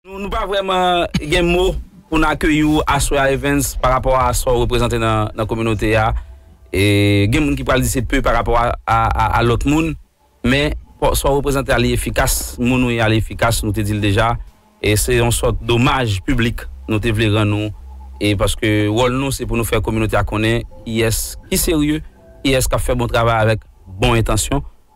Nou pa vrèman gen mo pou n akeyi w aswè a Evens pa rapò a sa w reprezante nan kominote a. Gen moun ki pral di se pe pa rapò a lòt moun men sa w reprezante a li efikas, moun ou ye a li efikas nou te di l deja e se yon sòt domaj piblik nou te vle rann ou e paske wòl nou se pou nou fè kominote a konnen kiyès ki serye, kiyès k ap fè bon travay avèk bon entansyon.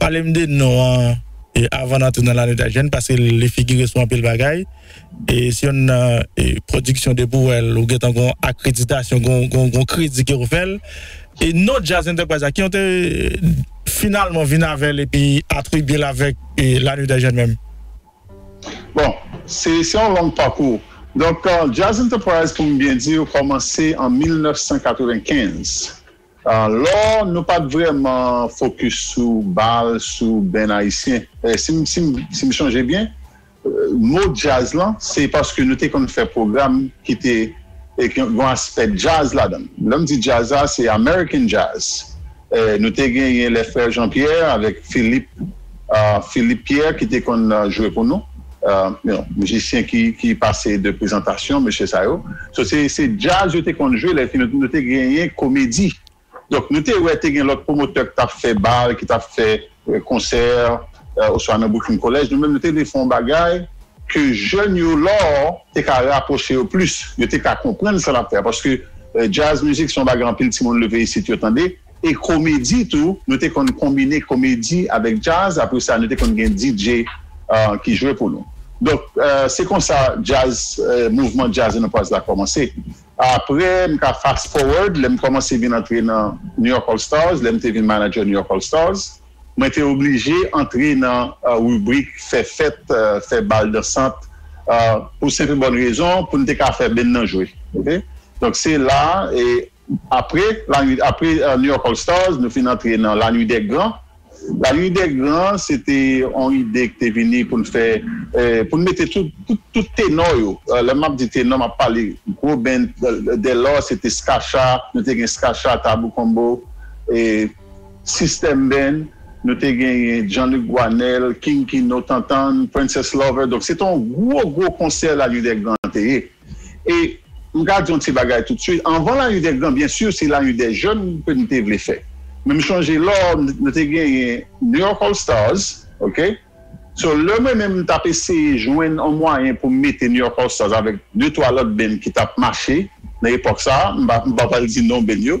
Pale m de non an avan n antre nan Lane Da Jèn paske li figire sou anpil bagay. Se yonn nan pwodiksyon depi w wè l ou gentan gen yon akreditasyon, gen yon kredi ke w fè l. Non Djaz Enterprise la, ki yon te finalman vin avè l epi atribye l avèk Lane Da Jèn menm? Bon, se yon long pakou. Donk Djaz Enterprise pou m byen di w kòmanse an 1995. Lò nou pat vrèman fokis sou bal, sou band ayisyen. Si m chonje byen, mo djaz lan se paske nou te konn fè pwogram ki te gen aspè djaz ladan l. Lè m di djaz la, se American Jazz. Nou te genyen lè frè Jean Pierre avèk Philippe. Philippe Pierre ki te konn jwe pou nou mizisyen ki pase de prezantasyon mesye sa yo so se djaz yo te konn jwe lè nou te genyen komedi donk nou te wè te gen lòt pwomotè ki t ap fè bal ki t ap fè konsè oswa nan boukin kolèj nou menm nou te vle fè yon bagay ke jèn yo la te ka rapwoche yo plis yo te ka konprann sa n ap fè a paske djaz mizik se yon bagay anpil timoun leve isit yo tande. e komedi tou, nou te konn konbine komedi avèk djaz, apre sa nou te konn gen DJ ki jwe pou nou. Donk se konsa djaz, mouvman djaz Lenokwaz la kòmanse. Apre m ka fast forward, lè m kòmanse vin antre nan New York All Stars, lè m te vin manager New York All Stars, mwen te oblije antre nan ribrik fè fèt, fè bal dansant, pou senp e bòn rezon pou n te ka fè band nan jwe. Donk se la e. Apre lanwit apre New York All Stars nou fin antre nan Lanwit dè gran. Lanwit dè gran se te yon ide ki te vini pou n fè pou n mete tout tout tenò yo lè m ap di tenò m ap pale gwo band dèlò se te Skasha nou te gen Skasha, Tabou Combo e System Band nou te genyen Jean-Luc Guanel, King Kino, Tantan, Princess Lover donk se te yon gwo gwo konsè Lanwit dè gran te ye. E m ka di yon ti bagay toutswit, anvan Lanyudègran, byen si, se Lanyudèjèn ke m te vle fè. Men m chonje lò nou te genyen New York All Stars, ok. So, lè mwen menm m t ap eseye jwenn yon mwayen pou m mete New York All Stars avèk de twa lòt benn ki t ap mache nan epòk sa a, m pa pral di non benn yo,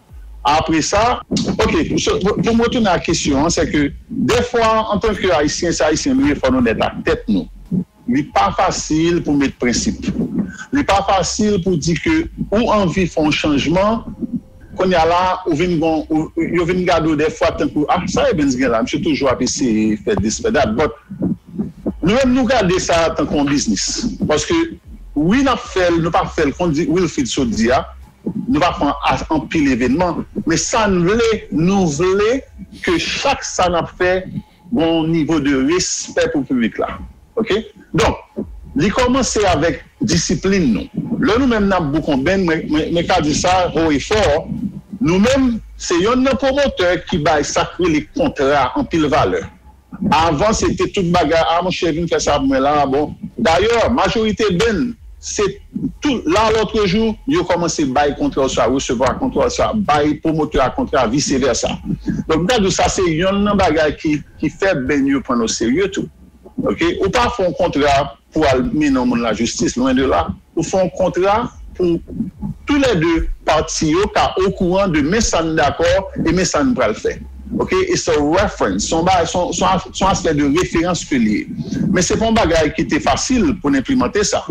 Apre sa, ok, pou m retounen ak kesyon an, sèke dèfwa antanke Ayisyen, se Ayisyen nou ye, fò n onèt ak tèt nou. Li pa fasil pou met prensip. Li pa fasil pou di ke ou anvi fè yon chanjman, kounye a la, ou vin gon, yo vin gade w dèfwa tankou, ah, sa Evens gen la? Misye toujou ap eseye fè dis, fè dat. But, nou menm nou gade sa tankou yon biznis. Paske, wi n ap fè l, nou pa fè l, kon Wilfrid sot di a, Nou pa pran as anpil evenman men sa n vle nou vle ke chak sa n ap fè gen yon nivo de respè pou piblik la ok donk li kòmanse avèk disiplin nou lè nou menm n ap boukonbenn mwen ka di sa ho e fò nou menm se yonn nan pwomotè ki bay sa k rele kontra anpil valè Avan se te tout bagay ah monchè vin fè sa pou mwen la bon dayè majorite benn se tout la lòtrejou yo kòmanse bay kontra oswa resevwa kontra oswa bay pwomotè a kontra vise vèsa donk m ta di w sa se yonn nan bagay ki fè benn yo pran n oserye tou ok ou pa fè yon kontra pou al mennen yon moun lajistis, lwen de la. Ou fè yon kontra pou tou lè de pati yo ka okouran de men sa n dakò e men sa n pral fè. Ok? It's a reference. Se yon bagay, se yon aspè de referans ke li ye. Men se pa yon bagay ki te fasil pou n enplimante sa.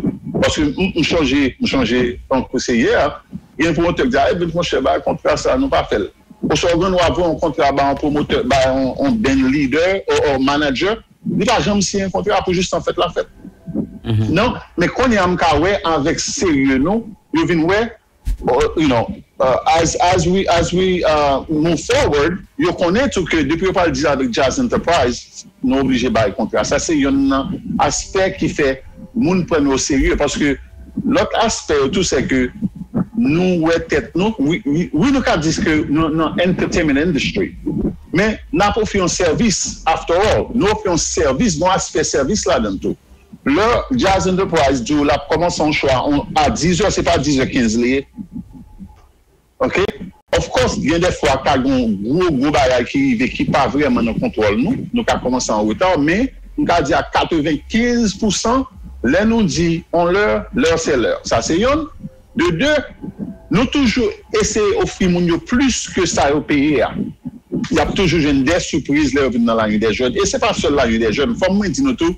Paske m sonje, m sonje tankou se yè, gen yon pwomotè ki di, Arebit monchè, bay kontra sa a, nou pa fè l. Oswa ou gen dwa voye yon kontra bay yon pwomotè, bay yon band lidè, or manager. Nou pa janm siyen kontra pou jistan fèt la fèt non men konnya m ka wè avèk serye nou yo vin wè you know as as we as we move forward yo konnen tou ke depi yo pral dil avèk Jazz Enterprise nou oblije bay kontra sa se yonn nan aspè ki fè moun pran nou oserye paske Lòt aspè yo tou se ke nou wè tèt nou, wi nou ka di ke nou nan entertainment industry men nap ofri yon sèvis after all nou ofri yon sèvis gon aspè sèvis ladann tou. Lè Jazz Enterprise diw lap kòmanse yon show a 10 è se pa 10 è 15 li ye. ok. Of course gen de fwa ka gon gwo gwo bagay ki rive ki pa vrèman nan kontwòl nou, nou ka kòmanse an reta men m ka di a 95 pousan lè nou di on lè, lè se lè sa se yonn, de de nou toujou eseye ofri moun yo plis ke sa yo peye a y ap toujou jwenn de sipriz lè yo vin nan Lagny dè Jòn e se pa sèl Lagny dè Jòn fò mwen di nou tou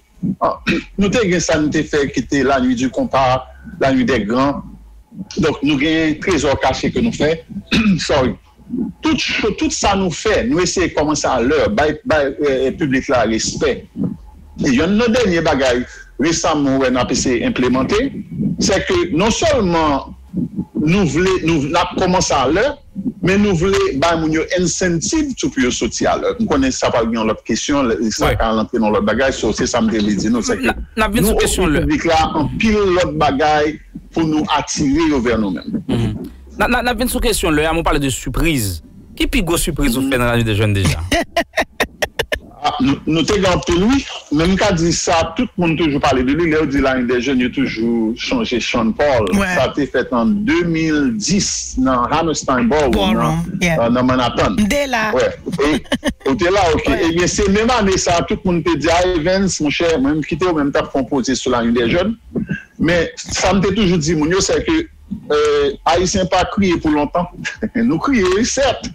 Nou te gen sa nou te fè ki te la nuit du konpa, la nuit dè gran. Donk nou gen trezò kache ke nou fè. Sorry. Tout cho, tout sa nou fè, nou eseye kòmanse a lè, bay piblik la respè. Yonn nan dènye bagay resaman mwen wè n ap eseye enplemante, sè ke non sèlman nou vle, nou, n ap kòmanse a lè, Men nou vle bay moun yo ensentiv tou pou yo soti a lè. M konnen sa pral gen yon lòt kesyon, sa ka al antre nan yon lòt bagay, so se sa m te vle di nou, sèke nou ofri piblik la anpil lòt bagay pou nou atire yo vè nou menm. N ap vin sou kesyon lè a, men w pale de sipriz. Ki pi gwo sipriz ou fè nan lane de jèn deja? Ah nou te gen anpil wi. Men m ka di sa tout moun toujou pale de li lè yo di lane dè jèn yo toujou chonje Sean Paul sa te fèt an 2010 nan Hammerstein Ballroom nan Manhattan ou te la ok ebyen se menm ane sa tout moun te di a Evens monchè mwen m kite ou men m tap fon poze sou lane dè jèn men sa m te toujou di moun yo sè ke Ayisyen pa kriye pou lontan. Nou kriye wi sèt,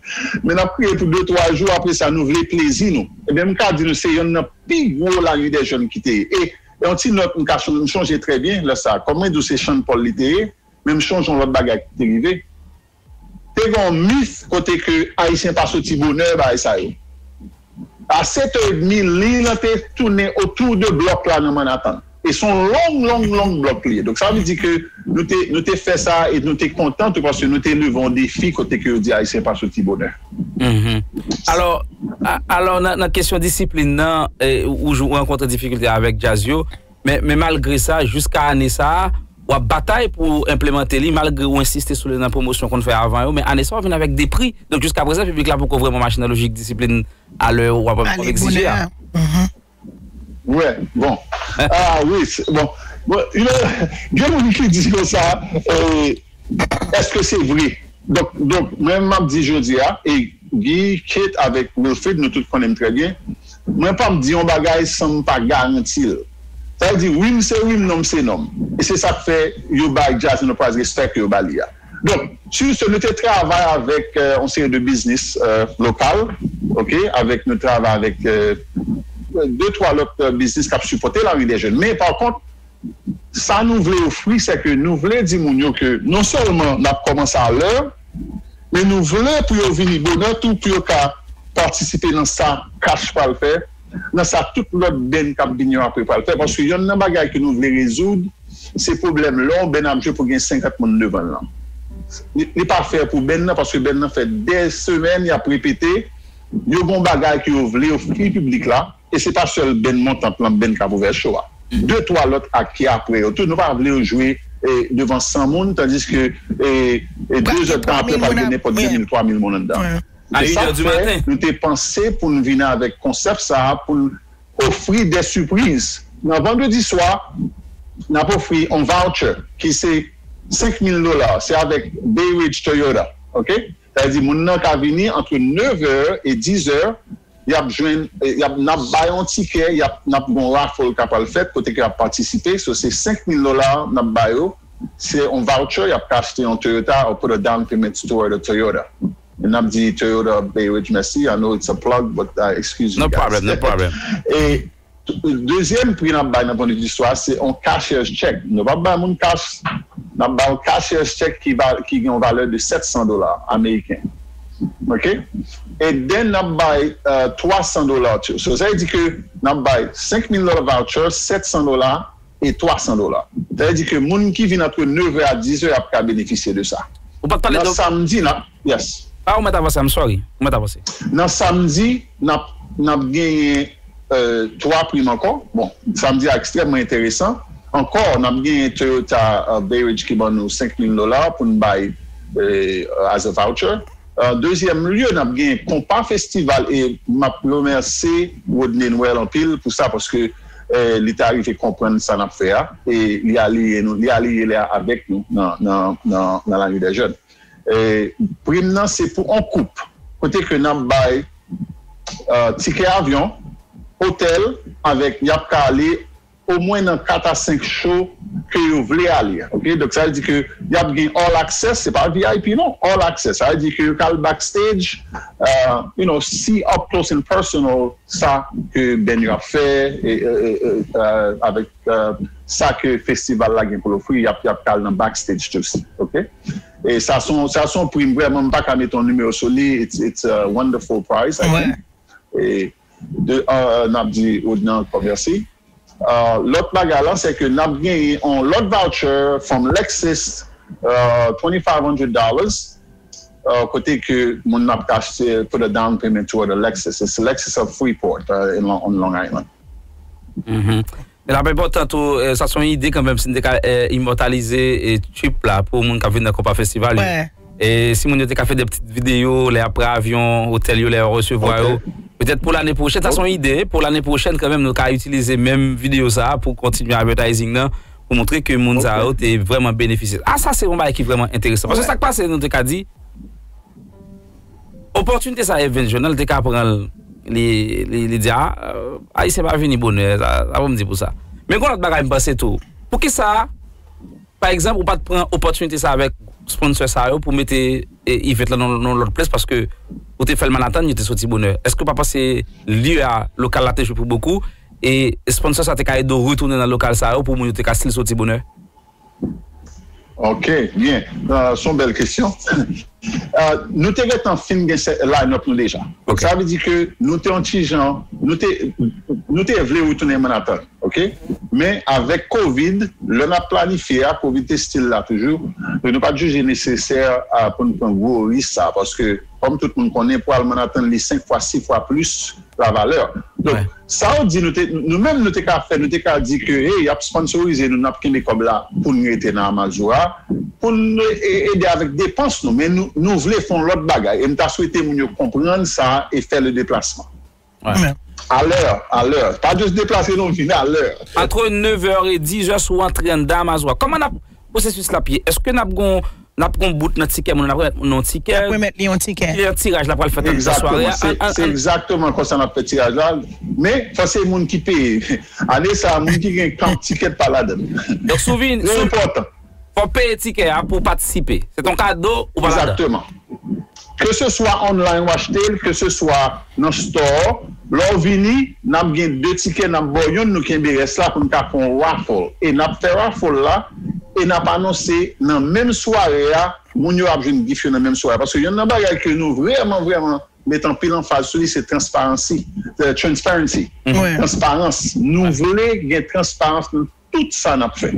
men nap kriye pou de twa jou apre sa nou vle plezi nou. Ebyen m ka di nou se yonn nan pi gwo lari dè jèn ki te ye. E yon ti nòt m ka chonje, m chonje trè byen lè sa, kòm mwen di w se Sean Paul li te ye, men m chonje yon lòt bagay ki te rive. Te gen yon myth kote ke Ayisyen pa soti bonè bagay sa yo. A setè edmi, liy lan te tounen otou de blòk la nan Mannatan. E se yon long, long, long blòk li ye. Donk sa vle di ke nou te, nou te fè sa e nou te kontan tou paske nou te leve yon defi kote ke yo di Ayisyen pa soti bonè. Hum-hum. Alò, alò nan kesyon disiplin nan, ou rankontre difikilte avèk djaz yo, Men malgre sa, jiska ane sa a, w ap batay pou w enplemante li, malgre ou ensiste sou li nan pwomosyon w konn fè avan yo, men ane sa a w vin avèk 2 pri. Donk jiska prezan piblik la poko vrèman mache nan lojik disiplin a lè w ap egzije a. Wè, bon. Ah wi, bon. Gen moun ki di konsa, èske se vre? Donk mwen m ap di jodi a, e Guy, Kate avèk Wilfrid nou tout konnen m trè byen, Mwen pap di yon bagay san m pa garanti l. Sa vle di wi m se wi m non m se non m. E se sa k fè yo bay Jazz Enterprise respè ke yo ba li a. Donk, sur ce, nou te travay avèk yon seri de biznis lokal ok, avèk nou travay avèk de twa lòt biznis k ap sipòte Lari dè Jèn men pa kont, Sa nou vle ofri se ke nou vle di moun yo ke non sèlman n ap kòmanse a lè, men nou vle pou yo vini bonè tou pou yo ka patisipe nan sa CACH pral fè, nan sa tout lòt band k ap vin yo apre pral fè paske yonn nan bagay ke nou vle rezoud se pwoblèm lè yon band ap jwe pou gen 50 moun devan l lan. Li pa fè pou band lan paske band lan fè dè semèn y ap repete, yo gen yon bagay ke yo vle ofri piblik la. E se pa sèl benn Montant lan, benn Kap Ouvè Cho a. De twa lòt ak ki apre yo tou. Nou pa vle yo jwe devan 100 moun tandiske de zèd tan apre pral gen nenpòt 2 mil, 3 mil moun anndan. Se sa k fè nou te panse pou n vin avèk konsèp sa a pou n ofri de sipriz. Nan vandredi swa, n ap ofri yon voucher ki se 5 mil dola. Se avèk Bay Ridge Toyota. Ok. Sa vle di moun nan ka vini antre 9 è e 10 è, yap jwenn, yap, nap bay yon tikè, yap, nap gen yon raffle ka pral fèt kote ke yap patisipe, so se 5 mil dola nap ba yo, se yon voucher yap ka achte yon Toyota or put a down payment toward a Toyota. E nap di Toyota Bay Ridge mèsi, I know it's a plug but I excuse you guys. E Dezyèm pri nap bay nan pwen de vi istwa se yon cashier's check nou pap bay moun kach nap bay yon cashier's check ki gen yon valè de 700 dola ameriken ok e den nap bay 300 dola tou so sa vle di ke nap bay 5000 dola voucher 700 dola e 300 dola sa vle di ke moun ki vin antre 9 è a 10 è ap ka benefisye de sa nan samdi nap. Yes. Ah ou mèt avanse I'm sorry. Ou mèt avanse. Nan samdi nap nap genyen 3 prim ankò bon samdi a ekstrèmman enteresan ankò nap genyen Toyota Bayrich ki ban nou 5000 dola poun bay as a voucher an dezyèm lye nap genyen konpa festival e map remèse Rodney Noël anpil pou sa paske li ta rive konprann sa nap fè a e li aliye nou li aliye avèk nou nan nan nan la nuit des jeunes. Prim nan se pou on koup kote ke nap bay tikè avyon, otèl avèk yap ka ale o mwen nan 4 a 5 show ke yo vle ale ok donk sa vle di ke yap gen all access se pa vip non all access sa vle di ke yo ka al back stage you know si up close and personal sa ke band yo ap fè avèk sa ke festival la gen pou l ofri yap yap ka al nan back stage tou si ok e sa s on sa s on prim vrèman m pa ka mete yon nimewo sou li it's it's a wonderful prize i think e de an nap di Odna ankò mèsi lòt bagay la se ke nap genyen yon lòt voucher from Lexus twenty five hundred dollars Kote ke moun nan ap ka achte put a down payment toward a Lexus it's a Lexus of Freeport in on Long Island. L ap enpòtan tou, sa s on ide kanmenm si n te ka imòtalize trip la pou moun k ap vin nan konpa festival yo e si moun yo te ka fè de ptit videyo lè y ap pre avyon, otèl yo lè y ap resevwa yo petèt pou lane pwochèn sa s on ide pou lane pwochèn kanmenm nou ka itilize menm videyo sa a pou kontinye advertising nan. pou montre ke moun sa yo te vrèman benefisye. A sa se yon bagay ki vrèman enteresan. Paske sa k pase nou te ka di, opòtinite sa Evens jwenn nan li te ka pran l, li di a, Ayisyen pa vini bonè, sa pou m di pou sa. Men gen yon lòt bagay m panse tou. Poukisa pa egzanp ou pa t pran opòtinite sa avèk sponsò sa yo pou mete event lan nan yon lòt plas paske ou te fè l Manhattan yo te soti bonè. Èske ou pa panse lye a, lokal la te jwe pou bokou? E sponsor sa te ka ede w retounen nan lokal sa yo pou moun yo te ka stil soti bonè? Ok byen son bèl kesyon nou te gentan fin gen sè line up nou deja sa vle di ke nou te yon ti jan nou te nou te vle retounen Manhattan ok men avèk covid lè nap planifye a covid te stil la toujou nou pat jije nesesè pou nou pran gwo ris sa paske kòm tout moun konnen pou al Manhattan li 5 fwa 6 fwa plis la valeur donk sa ou di nou te nou menm nou te ka fè nou te ka di ke hey yap sponsorise nou nap kenbe kòb la poun rete nan amazura poun ede avèk depans nou men nou nou vle fon lòt bagay em ta swete moun yo konprann sa e fè le deplasman a lè a lè pa just deplase non vin a lè entre 9 heures et 10 heures sou antre anndan amazura kòman nap Pwosesis la ap ye, èske n ap gen yon, n ap gen yon bout nan tikè moun nan, n ap remèt moun nan yon tikè. N ap remèt li yon tikè. Ki lè tiraj la pral fèt nan sware a? Egzakteman, se egzakteman konsa n ap fè tiraj la, men fò se moun ki peye. Ane sa a, moun ki gen kan tikè pa ladan l. Donk si w vini, si w. Trè enpòtan. Fò w peye tikè a pou w patisipe. Se t on kado ou pa ladan. Egzakteman. Ke se swa online w achte l, ke se swa nan store, lè w vini, n ap gen 2 tikè n ap ba w youn, nou kenbe rès la pou n ka fè yon raffle. E n ap fè raffle la e n ap anonse nan menm sware a, moun yo ap jwenn gif yo nan menm sware a. Paske yonn nan bagay ke nou vrèman vrèman met anpil anfaz sou li se transparansi, transparency, transparans. Nou vle gen transparans nan. tout sa nap fè.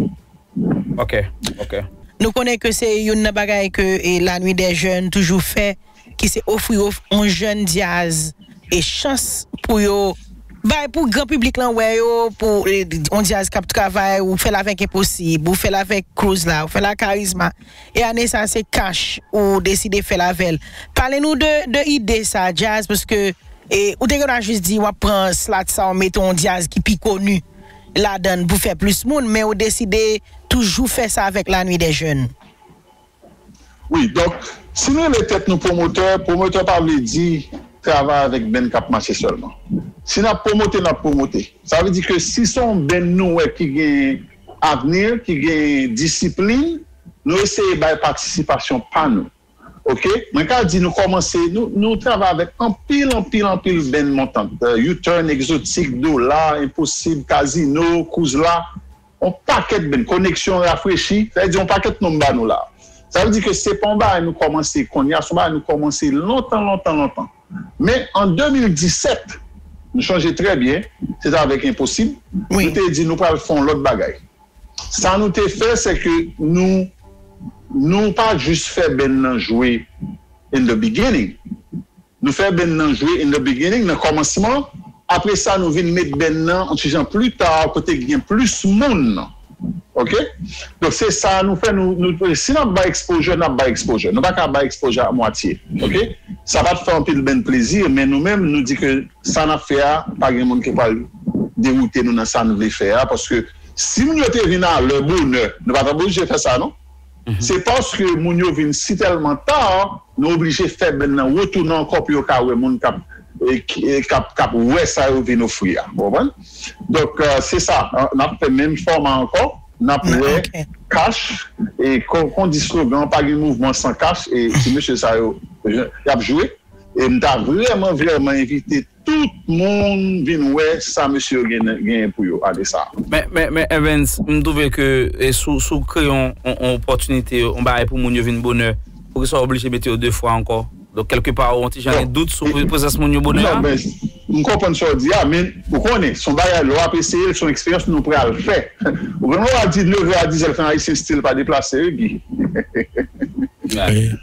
Ok ok. Nou konnen ke se youn nan bagay ke la nuit des jeunes toujou fè ki se ofri yon jèn dyaz e chans pou yo bay pou gran piblik lan wè yo pou yon dyaz kap travay ou fèl avèk enposib ou fèl avèk Cruz la ou fèl a karizma e ane sa se cash ou deside fèl avèl pale nou de de ide sa dyaz paske e ou te gen dwa jis di wap pran slat sa ou mete yon dyaz ki pi konu ladann pou fè plis moun men ou deside toujou fè sa avèk la nuit des jeunes. Wi donk si n rele tèt nou pwomotè, pwomotè pa vle di travay avèk benn k ap mache sèlman. Si n ap pwomote n ap pwomote. Sa vle di ke si se yon benn nou wè ki gen avni, ki gen disiplin, nou eseye bay patisipasyon pa nou. Ok mwen ka di nou kòmanse nou travay avèk anpil anpil anpil band montant U-turn Exotic Dola Enposib Kazino Kouzla yon pakèt band Koneksyon Rafrechi sa vle di yon pakèt non m ba nou la sa vle di ke se pa yon bagay nou kòmanse konnya se yon bagay nou kòmanse lontan lontan lontan men an 2017 m chonje trè byen se t avèk Enposib nou te di nou pral fè yon lòt bagay. Sa nou te fè se ke nou nou pa jis fè band nan jwe in the beginning nou fè band nan jwe in the beginning nan kòmansman apre sa nou vin met band nan on ti jan pli ta kote gen plis moun ok donk se sa nou fè nou si nap bay exposure nap bay exposure nou pa ka bay exposure a mwatye ok sa pat fè anpil band plezi men nou menm nou di ke sa nap fè a pa gen moun ki pral dewoute nou nan sa nou vle fè a paske Si moun yo te vin alè, bonè, nou pa ta oblije fè sa non. Se paske moun yo vin si tèlman ta, nou oblije fè bèn nan retounen ankò pou yo ka wè moun k ap k ap wè sa yo vin ofri a. Ou konprann? Donk, se sa, n ap fè menm fòma ankò, n ap wè kach e kon on di slogan an, pa gen mouvman san kach e ti mesye sa yo, y ap jwe e m ta vrèman vrèman envite. Tout moun vin wè sa mesye yo genyen pou yo ale sa. Men Evens, m twouve ke si w kreye yon opòtinite, yon bagay pou moun yo vin bonè, poukisa w oblije mete yo 2 fwa ankò? Donk kèlke pa ou yon ti jan gen dout sou prezans moun yo bonè a? M konprann sa w di a, men ou konnen, se yon bagay lè w ap eseye l, se yon eksperyans nou pral fè. Ou konnen lè w al di nevè a di zèl fè yon ayisyen stil pa deplase wi Guy.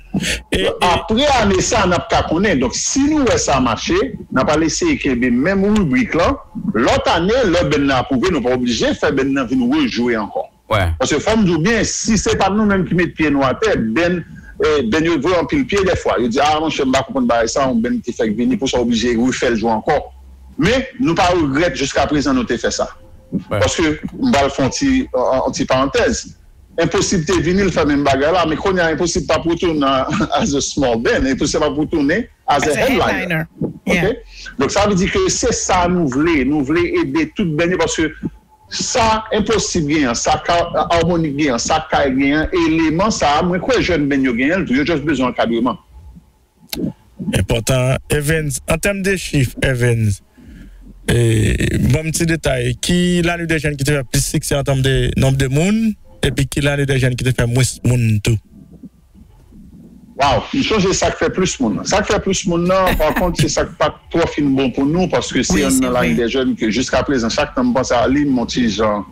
E apre ane sa a n ap ka konnen. Donk, si nou wè sa mache, n a pral eseye kenbe menm ribrik lan. Lòt ane, lè benn nan apwouve, nou pa oblije fè benn nan vin rejwe ankò. Paske fò m di w byen, si se pa t nou menm ki met pye nou atè, benn benn yo voye anpil pye dèfwa. Yo di, a monchè, m pa konprann bagay sa a, yon benn ki fèk vini, pou sa w oblije refè l jwe ankò? Men, nou pa regrèt jiskaprezan nou te fè sa. Paske, m pral fè yon ti yon ti parantèz. Enposib te vini, l fè menm bagay la, men kounye a Enposib pa p retounen as a small band, Enposib ap retounen as a headliner. Ok, donk sa vle di ke se sa nou vle, nou vle ede tout band yo paske sa Enposib genyen an, sa Harmonik genyen an, sa Kay genyen an, eleman sa a mwen kwè jèn band yo genyen l tou, yo just bezwen ankadreman. Enpòtan Evens an tèm de chif Evens banm ti detay ki lane de jèn ki te fè plis siksè an tèm de nonb de moun epi ki lane de jèn ki te fè mwens moun tou. Waww m sonje sak fè plis moun nan sak fè plis moun nan pa kont se sak pat twò fin bon pou nou paske se yonn nan lane de jèn ke jiskaprezan chak tan m panse a li m on ti jan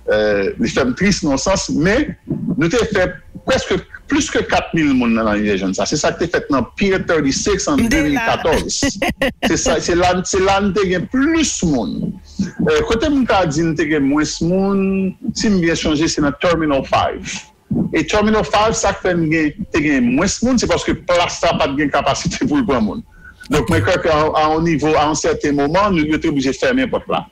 Li fè m tris nan yon sans, men nou te fè prèske plis ke 4 mil moun nan lannivè jèn sa. Se sa k te fèt nan Pier 36 an 2014. Se la se la n te gen plis moun. Kote m ka di n te gen mwens moun, si m byen sonje, se nan Terminal 5. E Terminal 5, sa k fè n gen te gen mwens moun, se paske plas la pa t gen kapasite pou l pran moun. Donk mwen kwè ke a yon nivo, a yon sèten moman, yo te oblije fèmen pòt la.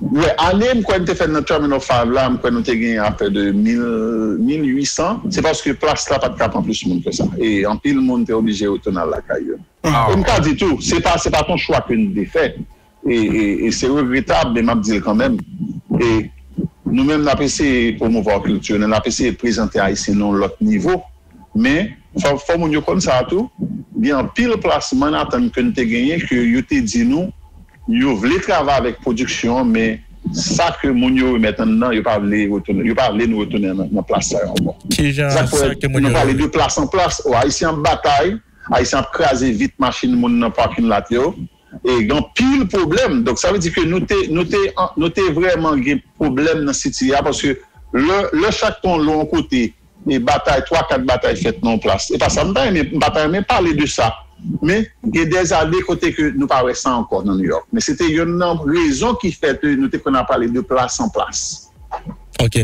Wè ane m kwè m te fè nan Terminal Five la m kwè nou te gen aprè de mil, mil ui san, se paske plas la pa t ka pran plis moun ke sa e anpil moun te oblije retounen al lakay yo. E m ka di tou, se pa se pa t yon chwa ke n te fè e e se regretab men m ap di l kanmenm e nou menm n ap eseye pwomouva kilti nou, n ap eseye prezante Ayisyen nan yon lòt nivo Men, fò moun yo konn sa tou, gen anpil plas Manhattan ke n te genyen ke yo te di nou yo vle travay avèk pwodiksyon an men sa ke moun yo remèt anndan yo pa vle retounen, yo pa vle nou retounen nan plas sa yo ankò. Sa k fè nou pale de plas an plas. Ayisyen ap batay, Ayisyen ap kraze vit machin moun nan parking lot yo e gen anpil pwoblèm. Donk sa vle di ke nou te, nou te, nou te vrèman gen pwoblèm nan City a paske lè, lè chak tan w lwe yon kote e batay twa kat batay fèt nan yon plas epa sa m ta renmen m pa ta renmen pale de sa men gen dèzane kote ke nou pa wè sa ankò nan Nouyòk men se te yonn nan rezon ki fè ke nou te konn ap pale de plas an plas. Ok.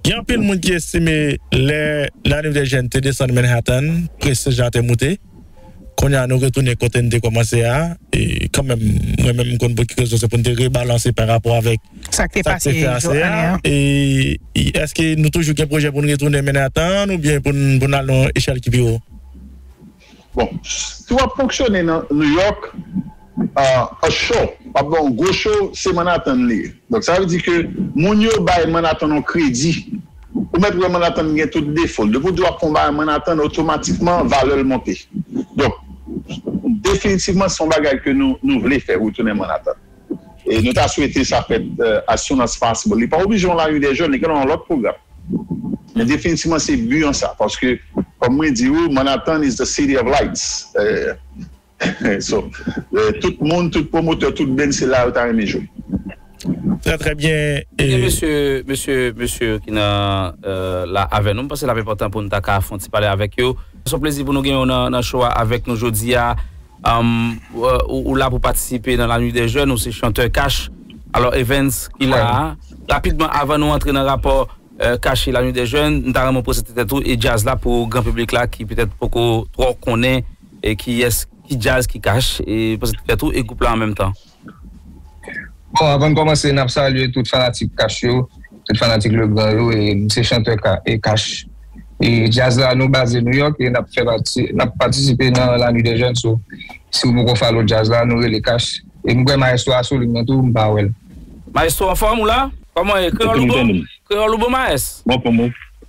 Gen anpil moun ki estime lè Lanivedjèn te desann Manhattan, prestij la te moute. Konnya nou retounen kote n te kòmanse a kanmenm mwen menm m konn pou ki rezon se pou n te rebalanse pa rapò avèk sa k te pase ane a e èske nou toujou gen pwojè pou n retounen mennen a tan an oubyen pou n al nan yon echèl ki pi wo. Bon, si w ap fonksyone nan New York. A show, m ap ba w yon gwo show, se Manhattan li ye. Donk sa vle di ke moun yo bay Manhattan yon kredi. Ou mèt wè Manhattan gen tout defo l. Depi w di w ap fè yon bagay Manhattan, otomatikman valè l monte. Donk, definitivman se yon bagay ke nou vle fè, retounen Manhattan. E nou ta swete sa fèt as soon as possible. Li pa oblije yon lari dè jèn, li ka nan yon lòt pwogram. Men definitivman se bi an sa. Paske, kòm mwen di ou, Manhattan is the city of lights. So tout moun tout pwomotè tout beny se la yo ta renmen jwe. Trè trè byen e. Ebyen mesye mesye mesye ki nan la avè nou m panse l ap enpòtan pou n ta ka fon ti pale avèk yo. S on plezi pou nou genyen w nan show a avèk nou jodi a ou la pou patisipe nan la nuit des jeunes ou se chantè cash alò Evens ki la a rapidman avan nou antre nan rapò cash e la nuit des jeunes m ta renmen w prezante tèt ou e djaz la pou gran piblik la ki petèt poko twò konnen E kiyès ki djaz ki kach e pase t fèt ou e group la an menm tan. Bon avan n kòmanse nap salye tout fanatik kach yo tout fanatik Legrand yo e m se chantè ka e kach e djaz la nou baze Nouyòk e nap fè pati nap patisipe nan la nuit des jeunes so si w poko follow djaz la nou rele kach e m kwè maestro a sou line nan tou m pa wè l. Maestro anfòm ou la? Kòman e kreyòl ou bon? Kreyòl ou bon maes?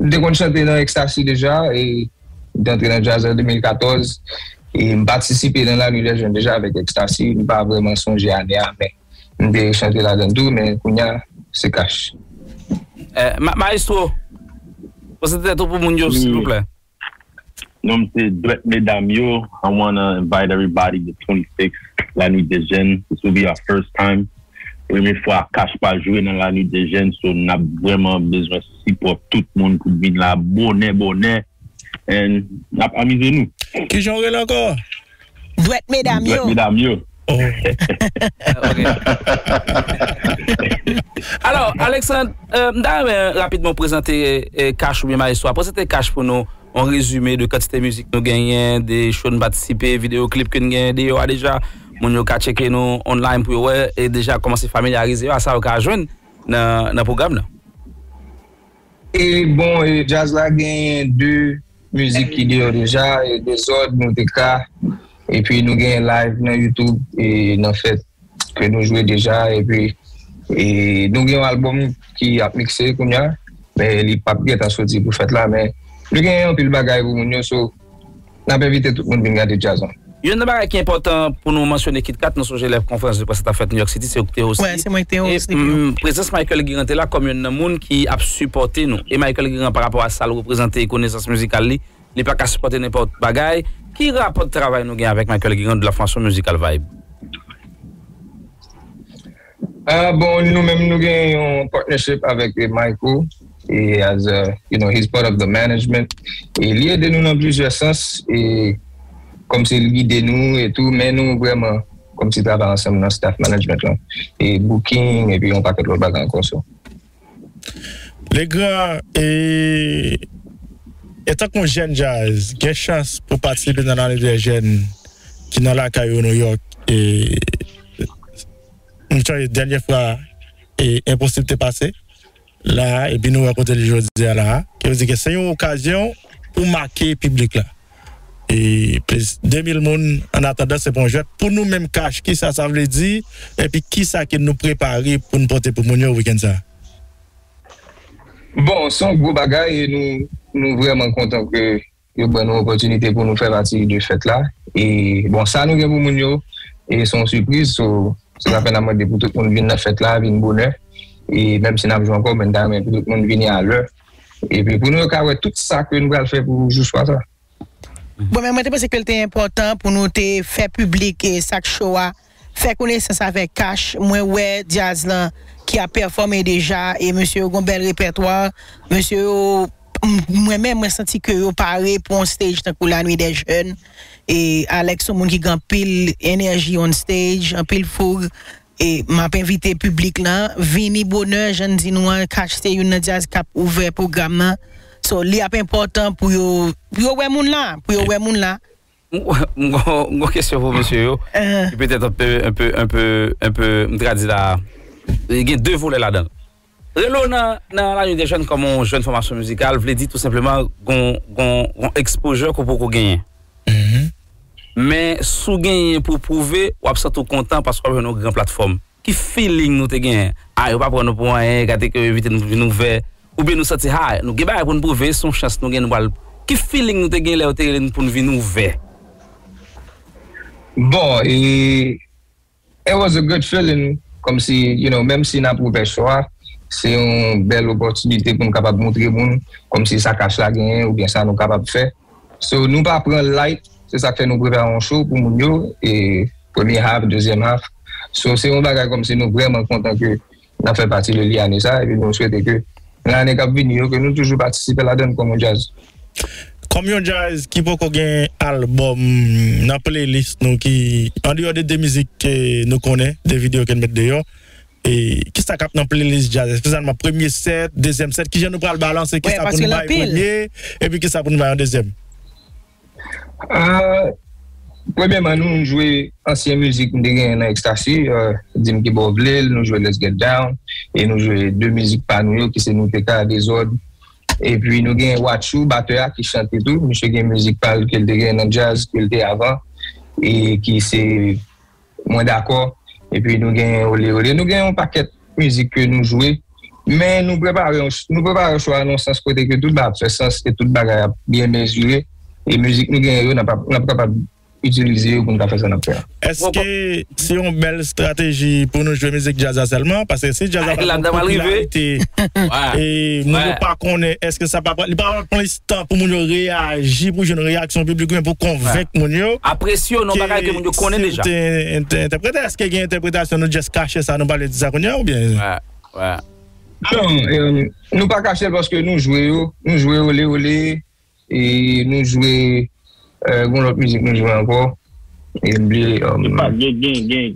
M te konn chante nan Ecstasy deja e m te antre nan djaz an 2014. E m patisipe nan La Nuit des Jeunes deja avèk Ecstasy. M pa vrèman sonje ane a men m te chante ladan l tou men kounye a se Cash. Maestro, prezante tèt ou pou moun yo silvouplè. Non m se dwèt medam yo I wanna invite everybody the 26 la nuit des jeunes this will be our first time premye fwa Akash pa jwe nan la nuit des jeunes so nap vrèman bezwen sipò tout moun pou vin la bonè bonè and nap amize nou. Kijan w rele ankò? Dwèt medam yo. Dwèt medam yo. Alò Alexandre, m ta renmen rapidman w prezante Cash oubyen Maestro a. Prezante Cash pou nou, yon rezime de kantite mizik nou genyen, de show n patisipe, videyo klip ke n genyen deyò a deja. Moun yo ka tcheke nou online pou yo wè e deja kòmanse familyarize yo a sa yo ka jwenn nan pwogram nan. E bon e djaz la genyen 2 mizik ki deyò deja e dezòd nou te ka epi nou genyen live nan youtube e nan fèt ke nou jwe deja epi e nou gen yon album ki ap mikse kounya men li pap gentan soti pou fèt la men nou genyen anpil bagay pou moun yo so Nap envite tout moun vin gade djaz lan. Youn nan bagay ki enpòtan pou nou mansyone KitKat nou sonje lè konferans de près la tap fèt New York City se ou ki te osi e prezans Michael Guérin te la kòm youn nan moun ki ap sipòte nou e Michael Guérin pa rapò a sal reprezante e konesans mizikal li li paka sipòte nenpòt bagay ki rapò travay nou gen avèk Michael Guérin de la fòmasyon mizikal Vibe. Ah bon nou menm nou gen yon partnership avèk Mayko e as a you know he's part of the management e li ede nou nan plizyè sans e kòmsi li gide nou e tou men nou vrèman kòmsi travay ansanm nan staff management lan e booking epi yon pakèt lòt bagay ankò so. Legra e etan k yon jèn djaz gen chans pou patisipe nan Lane dè Jèn ki nan lakay yo Nouyòk e m sonje dènye fwa e Enposib te pase la epi nou wè kote l ye jodi a la a. Sa vle di ke se yon okazyon pou make piblik la. e plis 2000 moun an atandan se pa yon jwèt pou nou menm cash kisa sa vle di epi kisa ke nou prepare pou nou pote pou moun yo weekend sa. Bon se yon gwo bagay e nou vrèman kontan ke yo ban nou opòtinite pou nou fè pati de fèt la e bon sa nou gen pou moun yo e se yon sipriz so se sa fè nan mande pou tout moun vin nan fèt la vin bonè e menm si nap jwe ankò men nou ta renmen pou tout moun vini a lè. epi pou nou ka wè tout sa ke nou pral fè pou jou swa sa. Bon men mwen te panse kel te enpòtan pou nou te fè piblik e sak cho a, fè konesans avèk Cash, mwen wè Dyaz lan ki ap pèfòme deja e mesye yo gon bèl repètwa, mesye yo mwen menm mwen santi ke yo pare pou on stage tankou la nuit des jeunes e Alex son moun ki gen anpil enèji on stage, anpil foug. E map envite piblik lan vini bonè jann di nou an cash se youn nan djaz kap ouvè pwogram nan so li ap enpòtan pou yo pou yo wè moun la pou yo wè moun la. M m gon kesyon pou mesye yo ki petèt anpe anpe anpe anpe m tradi la gen 2 volè ladanl. Rele w nan La Nuit des Jeunes kòm yon jèn fòmasyon mizikal vle di tou senpleman gon exposure ke w poko genyen. Men si w genyen pou w pwouve, w ap santi w kontan paske w ap jwenn yon gran platfòm. Ki feeling nou te genyen? Ah yo pa pran nou pou anyen, gade ke yo evite nou pou vin ouvè. Oubyen nou santi ha, nou gen bagay pou n pwouve, se yon chans nou gen nou pral. Ki feeling nou te genyen lè yo te rele nou pou n vin ouvè? Bon, It was a good feeling kòmsi you know menm si nap refè show a se yon bèl opòtinite pou nou kapab moutre moun kòmsi sa cash la genyen oubyen sa nou kapab fè so nou pa pranl light se sak fè nou prepare yon show pou moun yo e premye half dezyèm half so se yon bagay kòmsi nou vrèman kontan ke Nap fè pati de li ane sa epi nou swete ke nan ane kap vini yo ke nou toujou patisipe ladann kòm yon djaz. Kòm yon djaz ki poko gen albòm nan playlist nou ki andeyò de 2 mizik ke nou konnen, 2 videyo ke nou met deyò kisa kap nan playlist djaz espesyalman nan premye sèt, dezyèm sèt kijan nou pral balanse kisa pou nou bay premye epi kisa pou nou bay an dezyèm? Premyèman nou jwe ansyen mizik m te genyen nan Extasy, Di m Kibo w Vle l, nou jwe Let's Get Down e nou jwe 2 mizik pa nou yo ki se Nou te ka, Dezòd epi nou genyen Watchou batè a ki chante tou, misye gen mizik pa l ke l te genyen nan djaz ke l te avan e ki se. mwen dakò epi nou gen ole ole nou gen yon pakèt mizik ke nou jwe men nou prepare nou prepare cho a nan yon sans kote ke tout bagay ap fè sans e tout bagay ap byen mezire e mizik nou gen yo n ap kapab itilize yo pou n ka fè sa n ap fè a. Èske se yon bèl estrateji pou nou jwe mizik djaz la sèlman paske si djaz la pa gen yon popilarite e moun yo pa konnen èske sa pa pral li pa pral pran. tan pou moun yo reyaji pou jwenn reyaksyon piblik oubyen pou konvenk moun yo Apresyon non bagay ke moun yo konnen deja. Ke si nou te entèprete, èske gen entèpretasyon nou just kache sa nou pale de sa kounye a oubyen? Non, nou pa kache l paske nou jwe yo, nou jwe Ole Ole, e nou jwe gon lòt mizik nou jwe ankò e m bliye.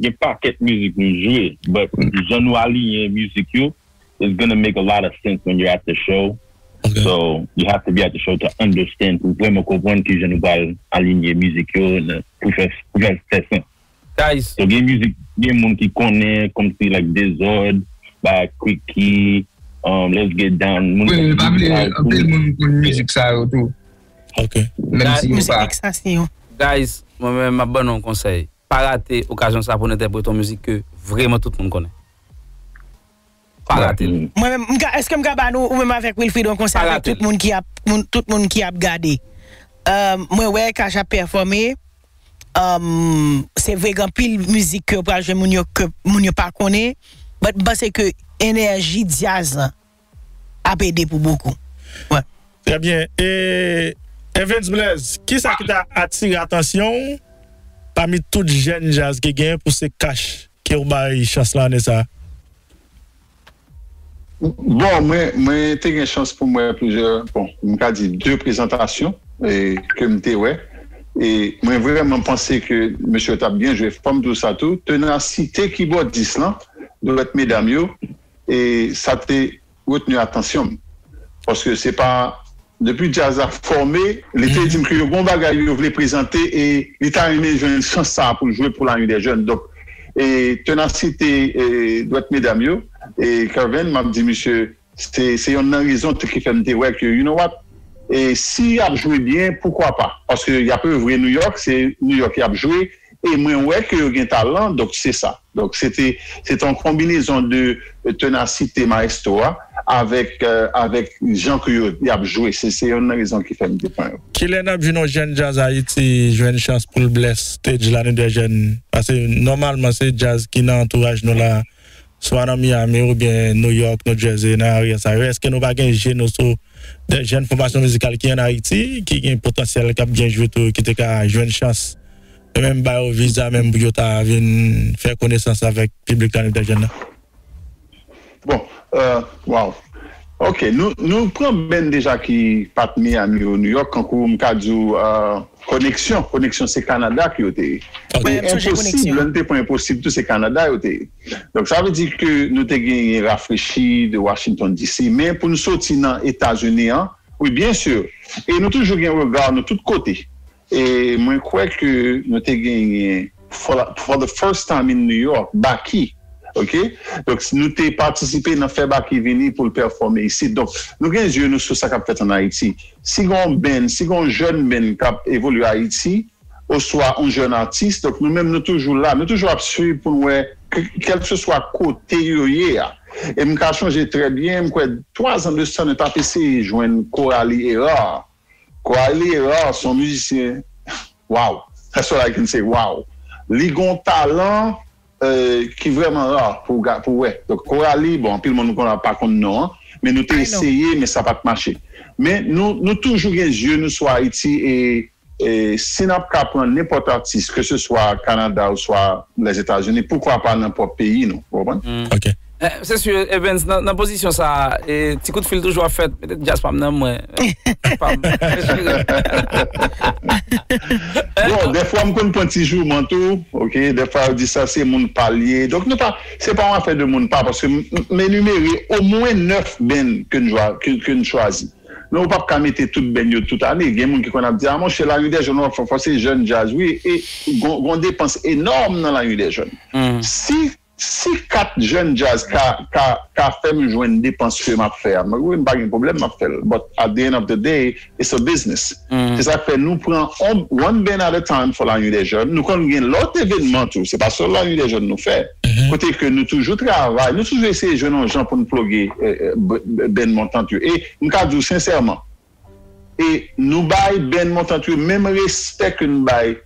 Gen pakèt mizik nou jwe but jan nou aliyen mizik yo it's gonna make a lot of sense when you're at the show so you have to be at the show to understand pou vrèman konprann kijan nou pral alinye mizik yo pou fè l fè sens so gen mizik gen moun ki konnen kòmsi like Dezòd bagay Kriki um Let's Get Down moun ki pa vle anpil moun konn mizik sa yo tou menm si yo pa Guys mwen menm map ban nou yon konsèy pa rate okazyon sa pou n entèprete yon mizik ke vrèman tout moun konnen. Pa rate l. Mwen menm m ka eske m ka ba nou ou menm avèk Wilfrid yon konsèy avèk tout moun ki ap tout moun ki ap gade mwen wè cash ap pèfòme se vre gen anpil mizik ke yo pral jwe moun yo ke moun yo pa konnen but m panse ke enèji dyaz lan ap ede pou bokou wè. Trè byen e Evens Blaise kisa ki ta atire atansyon w pami tout jèn djaz ki gen pou se cash. Ke w bay chans lan ane sa a? Bon, mwen, mwen te gen chans pou m wè plizyè, bon, m ka di de prezantasyon ke m te wè e mwen vrèman panse ke mesye yo t ap byen jwe. Fò m di w sa tou, tenasite kibòdis lan, dwèt medam yo, e sa te. retni atansyon m paske se pa depi djaz la fòme li te di m ke yo gen yon bagay yo vle prezante e li ta renmen jwenn chans sa pou l jwe pou la unidè jèn donk e tenasite e dwèt medam yo e Kervin m ap di misye se yonn nan rezon ki fè m te wè ke you know what e si y ap jwe byen poukwa pa paske y ap evre New York se New York y ap jwe E mwen wè ke yo gen talan, donk se sa. Donk se te, se te yon konbinezon de tenasite maestro a avèk, avèk jan ke yo, y ap jwe. Se, se yonn nan rezon ki fè m te pran yo. Kilè n ap jwenn yon jèn djaz Ayiti jwenn chans pou l bless stage la nou 2 jèn? Pase nòmalman se djaz ki nan antouraj nou la. Swa nan Miami oubyen New York, New Jersey, nan arè sa yo, èske nou pa gen je nou sou de jèn fòmasyon mizikal ki an Ayiti, ki gen potansyèl, k ap byen jwe tou, ki te ka jwenn chans e menm ba yo viza menm pou yo ta vin fè konesans avèk piblik la, nou te jèn nan? Bon, Waw! Ok nou pran band deja ki pat Miami ou New York kankou m ka di w koneksyon, koneksyon se Canada ke yo te ye men enposib lè nou te pran enposib tou se Canada yo te ye donk sa vle di ke nou te genyen rafrechi de Washington DC men pou nou soti nan Etazini an wi byen sur e nou toujou gen rega nou tout kote. E mwen kwè ke nou te genyen for the first time in New York, Baky, ok. Donk nou te patisipe nan fè Baky vini pou l pèfòme isit. Donk nou gen zye nou sou sa k ap fèt an Ayiti. Si gen yon band, si gen yon jèn band k ap evolye Ayiti oswa yon jèn atis, donk nou menm nou toujou la, nou toujou ap suiv pou n wè kèlkeswa kote yo ye a. E m ka chonje trè byen, m kwè twazan de sa nou t ap eseye jwenn Coralie Hérard. Wiley Erard son mizisyen waww that's all I can say waww li gon talan ki vrèman rare pou pou wè donk Coralie bon anpil moun konn pa konn non an men nou te eseye men sa pat mache men nou nou toujou gen zye nou sou Ayiti e si nap ka pran nenpòt atis ke se swa Canada oswa Lèzetazini poukwa pa nan pwòp peyi nou ou konprann. Se su Evens nan pozisyon sa ti kout fil toujou ap fèt petèt djaz pam nan mwen pam Bon dèfwa m konn pran ti jouman tou ok dèfwa yo di sa se moun pa l ye donk nou pa se pa yon afè de moun pa paske m enimere omwen 9 band ke n jwa ke n chwazi men ou pap ka mete tout band yo tout ane gen moun ki konn ap di a monchè laridèjòn wap fò fò se jèn djaz wi e gon depans enòm nan laridèjòn si Si 4 jèn djaz ka ka ka fèm jwenn depans ke map fè a wi mpa gen pwoblèm map fèl but at the end of the day it's a business se sak fè nou pran one band at a time for la nuit des jeunes nou konn gen lòt evenman tou se pa sèl la nuit des jeunes nou fè kote ke nou toujou travay nou toujou eseye jwenn yon jan poun ploge band montant yo e mka diw sensèman e nou bay band Montant yo menm respè ke n bay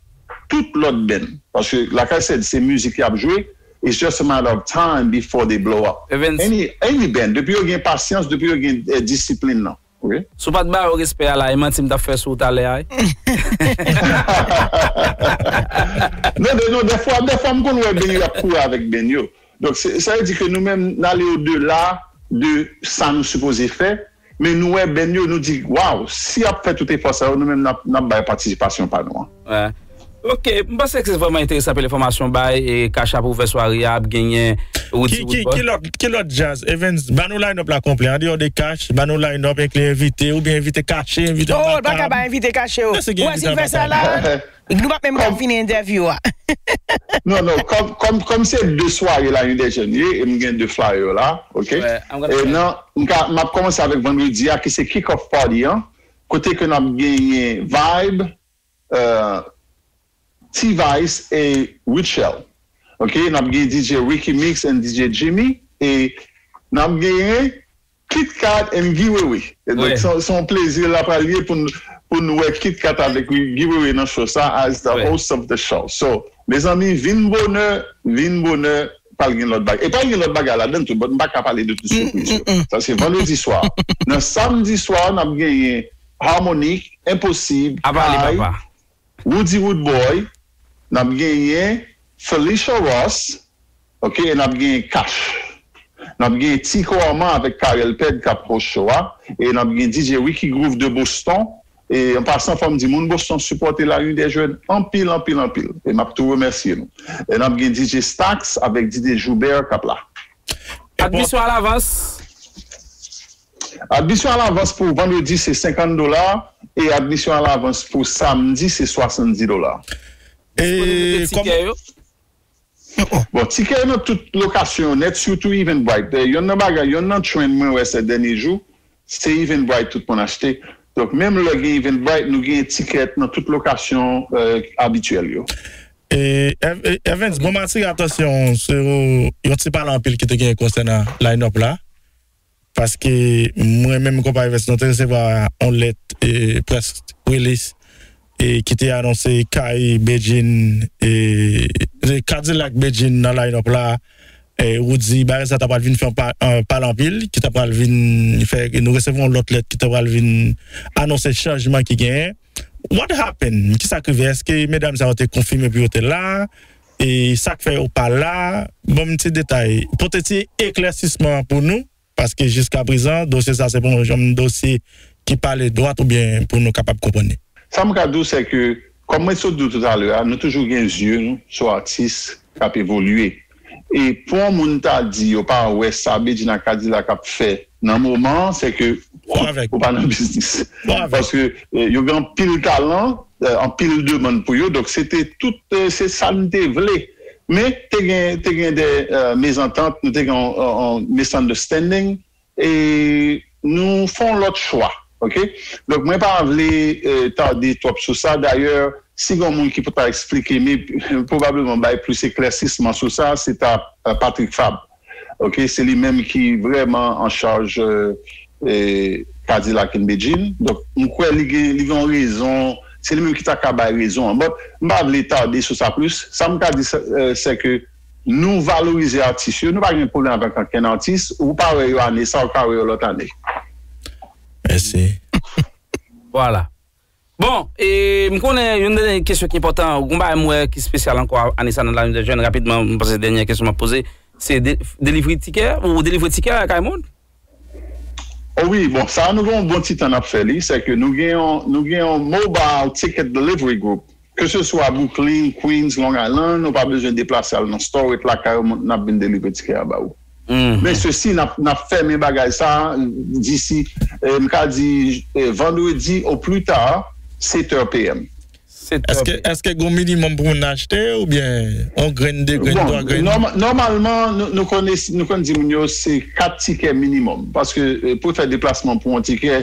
tout lòt band paske Lakay Sèd se mizik yap jwe it's just a matter of time before they blow up Evens. any any band depi yo gen pasyans depi yo gen disiplin nan ok. Si w pat ba yo respè a la e manti m tap fè sou w talè a Non de non dèfwa dèfwa m konn wè band yo ap kouri avèk band yo donk sa vle di ke nou menm n ale odela de sa nou sipoze fè Men nou wè band yo nou di waw si yap fè tout efò sa yo nou menm nap bay patisipasyon pa nou an. Ok m panse se vreman enteresan anpil enfomasyon ou bay e cash app ouvè sware a ap genyen Roody Woodboy. Ki lòt djaz Evens ba nou line up la konplè andeyò de cash ba nou line up enkli envite oubyen envite kache envite anba tab. Oh l paka bay envite kache oh ou wè sil fè sa la. Nou pap menm ka fini entèvyou a. Non non kòm kòm se de sware la inde jèn ye e m gen de flyer la ok e nan m ka m ap kòmanse avèk vandredi a ki se kick off party an kote ke n ap genyen vibe t-vice e rutshelle ok n ap gen DJ ricky mix and DJ jimmy e n ap genyen Kitkat and Guy Wewe donk se yon plezi la pral ye pou nou wè Kitkat avèk Guy Wewe nan show sa as the host of the show so mezanmi vin bonè vin bonè pral gen lòt bagay e pral gen lòt bagay ladann tou but m paka pale de tout sipriz yo sa se vandredi swa nan samdi swa n ap genyen Harmonik Enposib Kay Roody Roodboy n ap genyen Felicia Ross. Ok nap gen cash nap gen ti korman avèk carel pèd kap host show a e nap gen DJ Ricky Groove de Boston e an pasan fòm di moun Boston sipòte la rue des jeunes anpil anpil anpil e map tou remèsye nou e nap gen DJ Stax avèk DJ Joubert kap la Admisyon alavans. Admisyon alavans pou vandredi se 50 dola e admisyon alavans pou samdi se 70 dola. Disponiblite tikè yo. Bon tikè yo nan tout lokasyon yo nèt sitou Eventbrite yonn nan bagay yonn nan trend mwen wè sè dènye jou se Eventbrite tout moun achte donk menm lè gen Eventbrite nou genyen tikè nan tout lokasyon abityèl yo. Evens bon m atire atansyon w sou yon ti pale anpil ki te genyen konsènan line up la. Paske mwen menm konpayi Vès nou te resevwa yon lèt près rilis ki te anonse kay Bedjine e Kadilak Bedjine nan line up la Roody bagay sa ta pral vin fè yon pale anpil ki ta pral vin fè nou resevwa yon lòt lèt ki ta pral vin anonse chanjman ki genyen What happened? Kisa k rive? Eske medam sa yo te konfime pou yo te la? E sak fè yo pa la, banm ti detay, pote ti eklèsisman pou nou, paske jiskaprezan dosye sa se pa yon janm dosye ki pale dwat oubyen pou nou kapab konprann li. Sa m ka di w sè ke, kòm mwen sot di w toutalè a, nou toujou gen zye nou sou atis k ap evolye. E pou yon moun ta di yo pa wè sa Bedjine Kadilak ap fè nan moman an, sè ke ou pa nan biznis. Paske yo gen anpil talan. anpil demann pou yo donk se te tout se sa nou te vle men te gen te gen dè mezantant nou te gen yon misunderstanding e nou fè yon lòt chwa ok donk mwen pa vle tade twòp sou sa dayè si gen yon moun ki pou ta esplike mi pwobableman bay plis eklèsisman sou sa se ta Patrick Fabre. Ok se li menm ki vrèman an chaj kadilak and bedjine donk m kwè li gen li gen yon rezon se li menm ki ta ka bay rezon an but m pa vle tarde sou sa plis sa m ka di sè ke nou valorize atis yo nou pa gen pwoblèm avèk ankenn atis ou pa wè yo ane sa ou ka wè yo lòt ane. Mèsi. Vwala. Bon, e m konnen yon dènye kesyon ki enpòtan, gon bagay m wè ki spesyal ankò ane sa nan Lane dè Jèn, rapidman m panse se dènyè kesyon m ap poze, se delivri tikè ou delivre tikè lakay moun? O wi, bon sa nou gen yon bon ti tan n ap fè li, sèke nou gen yon, nou gen yon Mobile Ticket Delivery Group Ke se swa Brooklyn, Queens, Long Island, ou pa bezwen deplase al nan store, ret lakay ou, nap vin deliver tikè a ba ou. Men sesi nap fèmen bagay sa disi m ka di vendredi au plus tard 7 heures PM. Eske gon minimum pou moun achte oubyen yon grenn, 2 grenn, 3 grenn? Bon, nòmalman nou konn di moun yo se 4 tikè minimum paske pou fè deplasman pou yon tikè.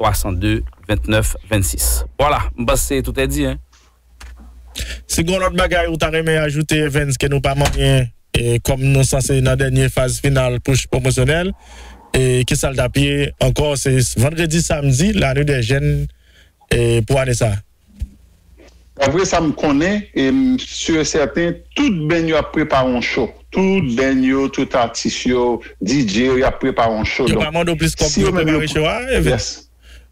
302 29 26 Voilà m panse tout est dit hein. Si gon lòt bagay ou ta renmen ajoute Evens ke nou pa manyen kòm nou sanse nan dènye faz final push pwomosyonèl kisal tap ye ankò se vandredi samdi la nuit dè jèn pou ane sa. Dapre sa m konnen e m sur e sèten tout band yo ap prepare yon show tout band yo tout atis yo DJ yo yap prepare yon show donk si yo menm yo pou yes.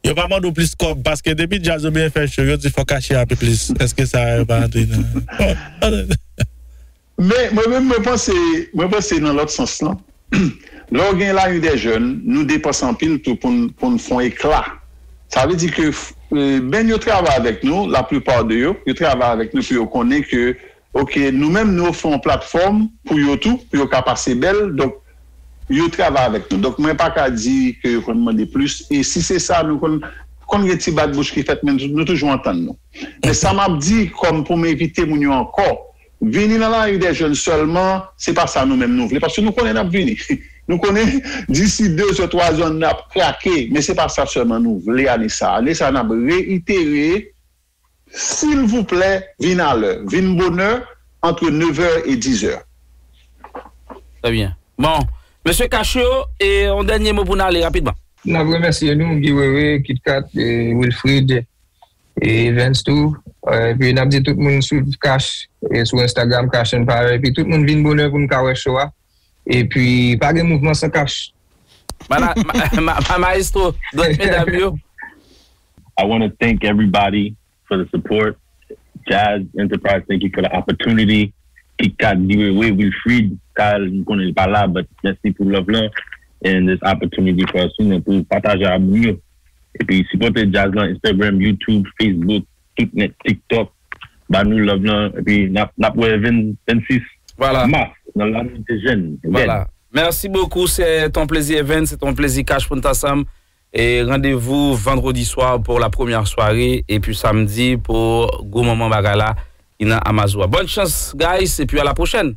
Yo pa mande w plis kòb paske depi djaz yo byen fè cho yo di fò kache a pi plis eske sa yo pa antre nan. Men, mwen menm, mwen panse, mwen panse nan lòt sans lan, lè w gen Lari dè Jèn, nou depanse anpil tou pou n, pou n fè yon ekla. Sa vle di ke menm yo travay avèk nou, la plupart de yo, yo travay avèk nou pou yo konnen ke ok, nou menm nou ofri yon platfòm pou yo tou, pou yo ka pase bèl, donk yo travay avèk nou. Donk mwen pa ka di ke yo konn mande plis, e si se sa, nou konn, konn gen ti bat bouch ki fèt men nou toujou antann nou. Men sa m ap di kòm pou m evite moun yo ankò, Vini nan lari dè jèn sèlman, se pa sa nou menm nou vle, paske nou konnen n ap vini. Nou konnen disi de zè, twa zè n ap krake, men se pa sa sèlman nou vle ane sa a. Ane sa a n ap reyitere, silvouplè vin alè, vin bonè, antre nevè e dizè. Trè byen. Bon, mesye Cacho, yon dènye mo pou n ale rapidman. N ap remèsye nou, Guy Wewe, Kit Kat, Wilfrid. E Evens tou epi nap di tout moun swiv cash sou Instagram cash empire epi tout moun vin bonè poun ka wè show a epi pa gen mouvman san cash. Maestro dwèt medam yo. I wanna thank everybody for the support Jazz Enterprise thank you for the opportunity Kitkat Giwewe Wilfrid Kyle m konnen li pa la but mèsi pou love lan and this opportunity for us pou nou pataje a moun yo Epi sipòte djaz lan Instagram, YouTube, Facebook, tout nèt TikTok ba nou love lan epi nap wè 26 Mars nan lane de jèn Vèn. Merci beaucoup c'est un plaisir Vèn c'est un plaisir Cash pou nou t ansanm e rendez-vous vendredi soir pour la première soirée epi samedi pour gwo manman bagay la ki nan Amazua. Bonne chance guys epi à la prochaine.